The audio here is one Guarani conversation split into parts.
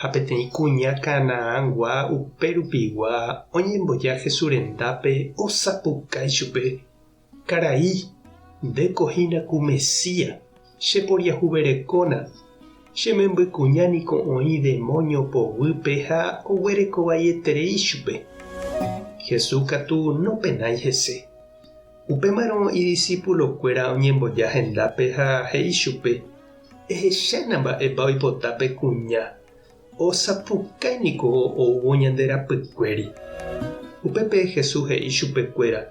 ha peteĩ kuña Canaangua upérupigua oñemboja Jesús rendápe osapukái chupe, Karai, ndéko hína ku Mesías, cheporiahuverekóna. Che memby kuña niko oĩ demónio poguýpe ha oguereko vaieterei chupe. Jesús katu nopenái hese. Upémarõ idisipulokuéra oñemboja hendápe ha he'i chupe, Ehechána mba'épa oipota pe kuña. Osapukái niko oúvo ñande rapykuéri. Upépe Jesús he'i chupekuéra,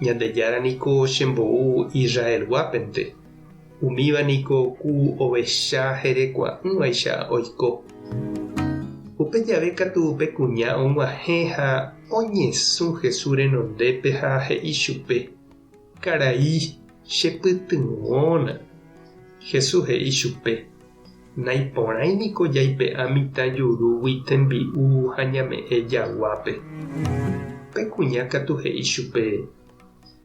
Ñandejára niko chembou Israelguápente, umíva niko ku ovecha herekua'ỹvaicha oiko. Upe jave katu pe kuña og̃uahẽ ha oñesũ Jesús renondépe ha he'i chupe, Karai, chepytyvõna. Jesús he'i chupe, Naiporãi niko jaipe'a mitã jurúgui tembi'u ha ñame'ẽ jaguápe. Pe kuña katu he'i chupe,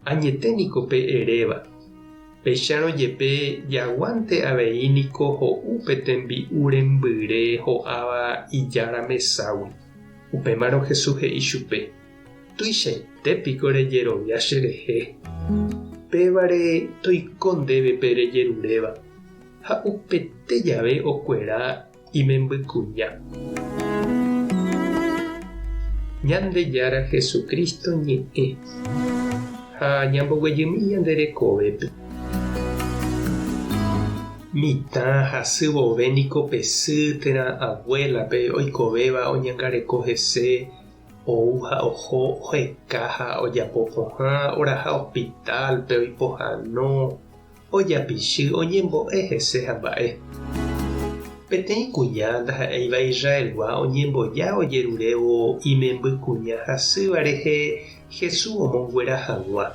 Añete niko pe eréva. Péicharõ jepe, jaguánte avei niko ho'u pe tembi'u rembyre ho'áva ijára meságui. Upémarõ Jesús he'i chupe, Tuichaite piko rejerovia cherehe? Pévare toiko ndéve pe rejeruréva, ha upete jave okuera imembykuña. Ñandejára Jesucristo ñe'ẽ ha ñamboguejymi ñande rekovépe. Mitã hasy vove niko pe sy térã abuela-pe oikovéva oñangareko hese, Ou ha oho oheka ha ojapo pohã oraha hospital-pe oipohano, ojapichy, oñembo'e hese ha mba'e. Peteĩ kuña ndaha'éiva Israelgua oñemboja ojerurévo imemby kuña hasýva rehe Hesu omonguera hag̃ua.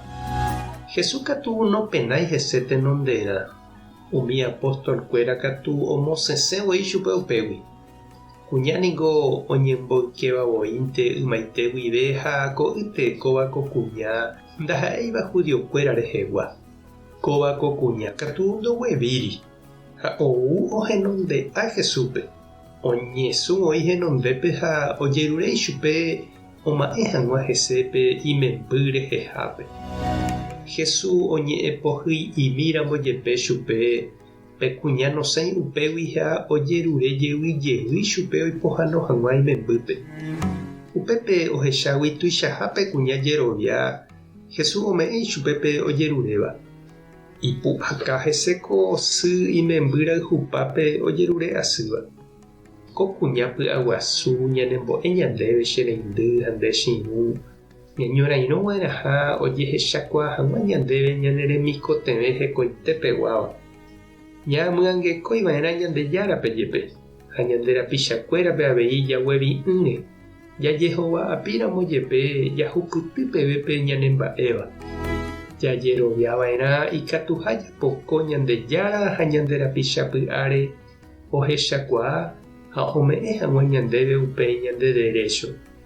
Hesu katu nopenái hese tenonderã. Umi apóstol-kuéra katu omosesẽ voi chupe upégui. Kuña niko oñemboykéva voínte ymaite guive ha ko'ýte kóva ko kuña ndaha'éiva judiokuéra rehegua. Kóva ko kuña katu ndoguevíri ha ou ohenonde'a Jesúspe, oñesũ voi henondépe ha ojerure ichupe oma'ẽ hag̃ua hese pe imemby rehehápe. Jesús oñe'ẽpohyimíramo jepe chupe Pe kuña nosẽi upégui ha ojerure jevy jevy chupe oipohano hag̃ua imembýpe. Upépe ohechágui tuichaha pe kuña jerovia Jesús ome'ẽ ichupe pe ojeruréva. Ipu'aka hese ko sy imemby rayhupápe ojerure asýva. Ko kuña py'aguasu ñanembo'e ñandéve che reindy ha nde chiru, Ñañorairõva'erãha ojehechakuaa hag̃ua ñandéve ñane remikotevẽ hekoitepeguáva. Ñaamyangekóiva'erã Ñandejárape jepe ha ñande rapichakuérape avei jaguevi'ỹre, jajehova'apíramo jepe jahupyty peve pe ñanemba'éva. Jajeroviava'erã ikatuha japoko Ñandejára ha ñande rapicha py'áre ohechakuaa ha ome'ẽ hag̃ua ñandéve upe ñande derécho.